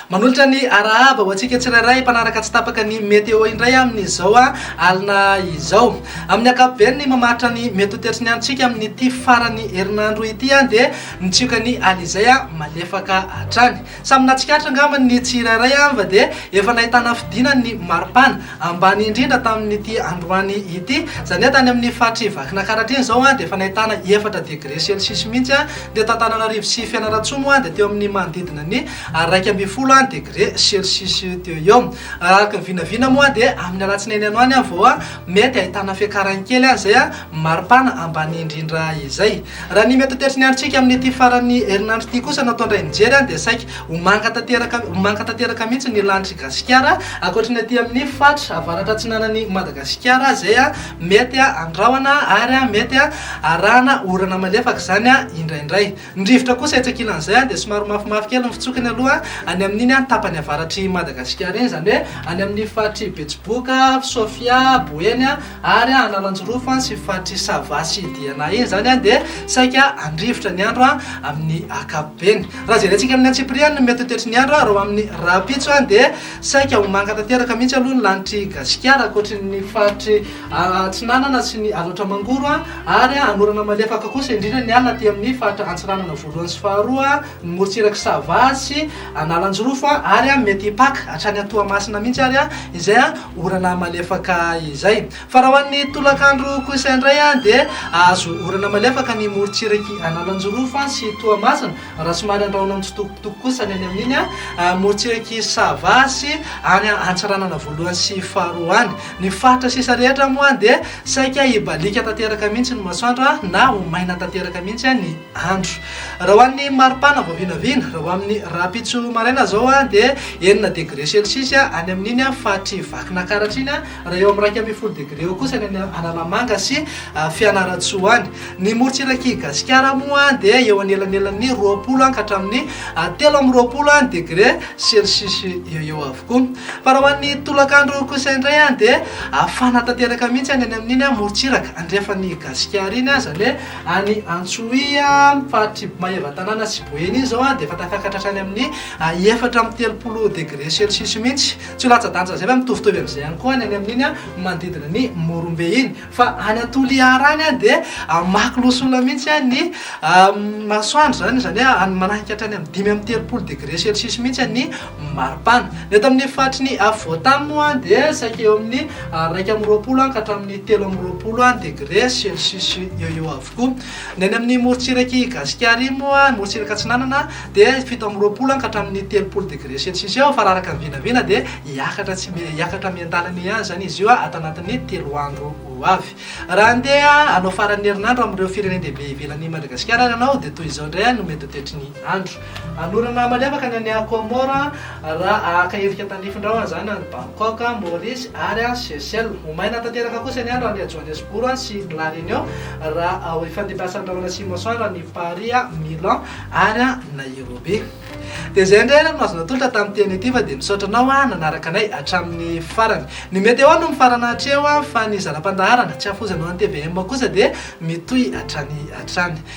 Manolotra ny arahaba ho antsika tsirairay mpanaraka tsy tapaka ny météo indray amin'izao ah, alina izao. Amin'ny ankapobeny ny mamaritra ny mety ho toetry ny antsika amin'ity farany herinandro ity ah, dia mitsioka ny alizay ah, malefaka hatrany. Samy nahatsikaritra angamba ny tsirairay fa dia efa nahitana fidinany ny maripana, ambany indrindra tamin'ity androany ity. Izany hoe tany amin'ny faritr'i Vakinankaratra iny izao dia efa nahitana efatra degre celsius mihitsy ny eto Antananarivo sy Fianarantsoa moa dia teo amin'ny manodidina ny iraika ambin'ny folo degre celsius teo eo. Araka ny vinavina moa dia amin'ny alatsinainy hanoany vao mety hahitana fiakarany kely izay maripana ambany indrindra izay. Raha ny mety ho tetry ny androntsika amin'ity faran'ny herinandro ity kosa no atao indray mijery dia saika ho manga tanteraka ho manga tanteraka mihitsy ny lanitr'i Gasikara ankoatry ny aty amin'ny faritra avaratra atsinanan'i Madagasikara izay mety handrahona ary mety harahana orana malefaka izany indraindray. Ny rivotra kosa etsy ankilan'izay dia somary mafimafy kely ny fitsokiny aloha any amin'iny tapany avaratr'i Madagasikara iny izany hoe any amin'ny faritr'i Betsiboka, Sofia, Boeny. Ary an ananjirofo an sy faritry sava sy diana iny zany an dia saika andrivotra ny andro an amin'ny akapobeny. Raha jerentsika amin'ny antsipiriany ny mety ho toetry ny andro an reo amin'ny rahampitso an dia saika ho manga tanteraka mihitsy aloha ny lanitr'i Gasikara ankoatry ny faritry atsinanana sy ny alaotra mangoro an ary an hanorana malefaka kosa indrindra ny alina aty amin'ny faritra antsinanana voalohany sy faharoa ny morontsirak'i Sava sy Analanjirofo ary mety hipaka hatrany Toamasina mihitsy ary izay orana malefaka izay. Fa raha ho an'ny tolakandro kosa indray dia hahazo orana malefaka ny morontsirak'i Analanjirofo sy Toamasina raha somary andrahona mitsitokotoko kosa ny any amin'iny morontsirak'i Sava sy any Antsiranana voalohany sy faharoa any. Ny faritra sisa rehetra moa dia saika hibaliaka tanteraka mihitsy ny masoandro na ho maina tanteraka mihitsy ny andro. Raha ho an'ny maripana vao vinavina, raha ho amin'ny rahampitso maraina izao dia enina degre celsius any amin'iny faritry Vakinankaratra iny, raha eo amin'ny iraika ambin'ny folo degre eo kosa ny any Analamanga sy Fianarantsoa any. Ny morontsirak'i Gasikara moa dia eo anelanelan'ny roapolo ka hatramin'ny telo amby roapolo degre celsius eo eo avokoa. Fa raha ho an'ny tolakandro kosa indray dia hafana tanteraka mihitsy any amin'iny morontsiraka andrefan'i Gasikara iny, izany hoe. Any Antsohihy, ny faritr'i Maevatanàna sy Boeny izao dia efa tafakatra hatrany amin'ny efatra amby telopolo degre celsius mihitsy. Tsy ho latsa-danja izay fa mitovitovy amin'izay ihany koa ny any amin'iny manodidina ny Morombe iny. Fa any Toliara any dia mamaky loholona mihitsy ny masoandro izany, izany hoe manahaka hatrany amin'ny dimy amby telopolo degre celsius mihitsy ny maripana. Ny eto amin'ny faritry ny afovoantany moa dia saika eo amin'ny iraika amby roapolo ka hatramin'ny telo amby roapolo degre celsius eo eo avokoa. Ny any amin'ny morontsirak'i Gasikara iny moa, ny morontsiraka atsinanana, dia fito amby roapolo ka hatramin'ny telopolo degre celsius eo fa raha araka ny vinavina dia hiakatra tsy hiakatra miandalana eo ihany izany izy io ato anatin'ny telo andro ho avy. Raha handeha hanao faran'ny herinandro amin'ireo firenen-dehibe ivelan'i Madagasikara ary ianao dia toy izao indray no mety ho toetry ny andro. Hanorina maliavaka ny an'i Aquamore raha haka endrika tandrifin-drahona izany any Bangkok, Maurice ary Seychelles. Ho maina tanteraka kosa ny andro any Johannesburg sy La Réunion raha ho ifandimbiasan'ny rahona sy masoandro any Paris, Milan ary Nairobi. Dia izay indray ary no azo natolotra tamin'ity teny ity fa dia misaotra anao nanaraka anay hatramin'ny farany. Ny Météo no mifarana hatreo fa ny zana-pandaharana, tsy hafozanao an'i tvm kosa dia mitohy hatrany hatrany.